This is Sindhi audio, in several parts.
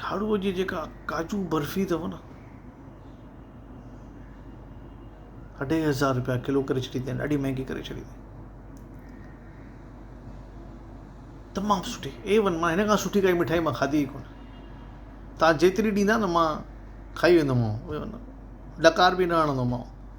ٿاڙوء جي جيڪا ڪاجو برفي اٿو نه اڍائي هزار رپيا ڪلو ڪري ڇڏي اٿائين ڏاڍي مهنگي ڪري ڇڏي اٿائين تمام سٺي اي ون مان هن کان سٺي ڪائي مٺائي مان کاڌي ئي ڪونه تان جيتري ڏيندا نه مان کائي ويندومانو ڏڪار به نه هڻندومانو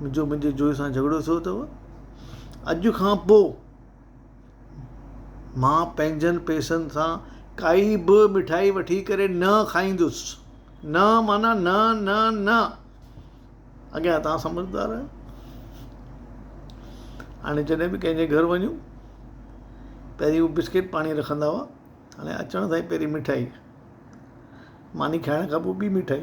جو منهنجي جويي سان جهڳڙو ٿيو اٿو اڄ کان پوء مان پنهنجن پئسن سان ڪائي به مٺائي وٺي ڪري نه کائيندس نه معنيٰ نه نه نه اڳيان تان سمجهدار آهيو هاڻي جڏهن به ڪنهنجي گهر وڃون پهرين هو بسڪيٽ پاڻي رکندا هئا هاڻي اچڻ سان پهرين مٺائي ماني کائڻ کان پوء ٻي مٺائي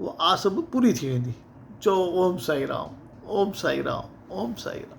اها آس به پوري ٿي ويندي. چئو اوم سائين رام اوم سائين رام اوم سائين رام.